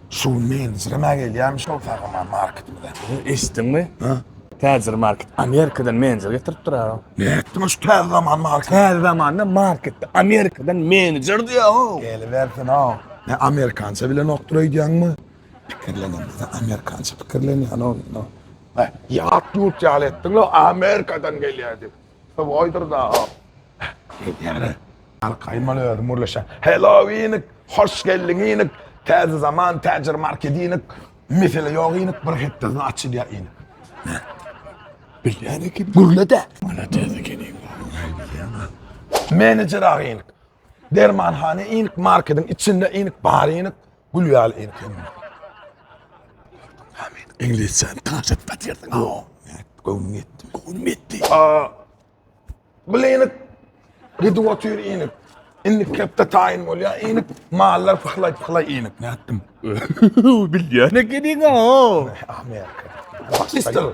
Şu gün menejirem-ä gelýärmiş ol Sagaman marketimize. Eşitdiňmi? Ha? Täjir market Amerikadan menejer getirip durar. Ne etdiň şu täze zaman market? Täze zamanda marketde Amerikadan menejer diýär o. Gelibersin o. Ne amerikança bilenokdyr öýdýäňmi? Pikirlenemizde amerikança pikirlenýän o. Ýat ýurt ýaly etdiň-le Amerikadan gelýär diýip. Köp goýdur da-a. Diýýäne. Arkaýmaly özüm gürleşýän. Hello inik, hoş geldiň inik. Täze zaman, täjir market inik. Mesele ýok inik, bir hepdesine açylýar inik. Hä. Bilýän eken, gürle-dä. Maladýes eken iň gowy. Näme diýýäň-a? Menejer aga inik. Dermanhana inik, marketiň içinde inik, bar inik. Gül ýaly erkin. Hamid iňlisçe tanşyp batýarsyň. Göwnüm ýetdi. Göwnüm ýetdi. Blenik gidip otyr inik. Indi kepde taýyn bolýar inik. Mallar pyhlaý pyhlaý inik. Nätdim? Bilýän ekeniň-a. Amerika. Pakistan.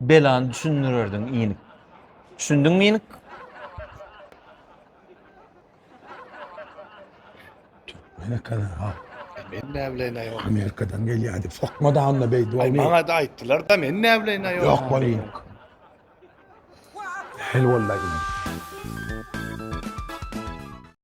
Belany düşündirerdiň inik. Düşündiňmi inik? Amerikadan ha. Men näbileýin aýol. Amerikadan gelýärdi. Sokma da onda beýdi Ay, bolmy? Maňa da aýtdylar da men näbileýin aýol. Yok bolýyn. Hel bollayın.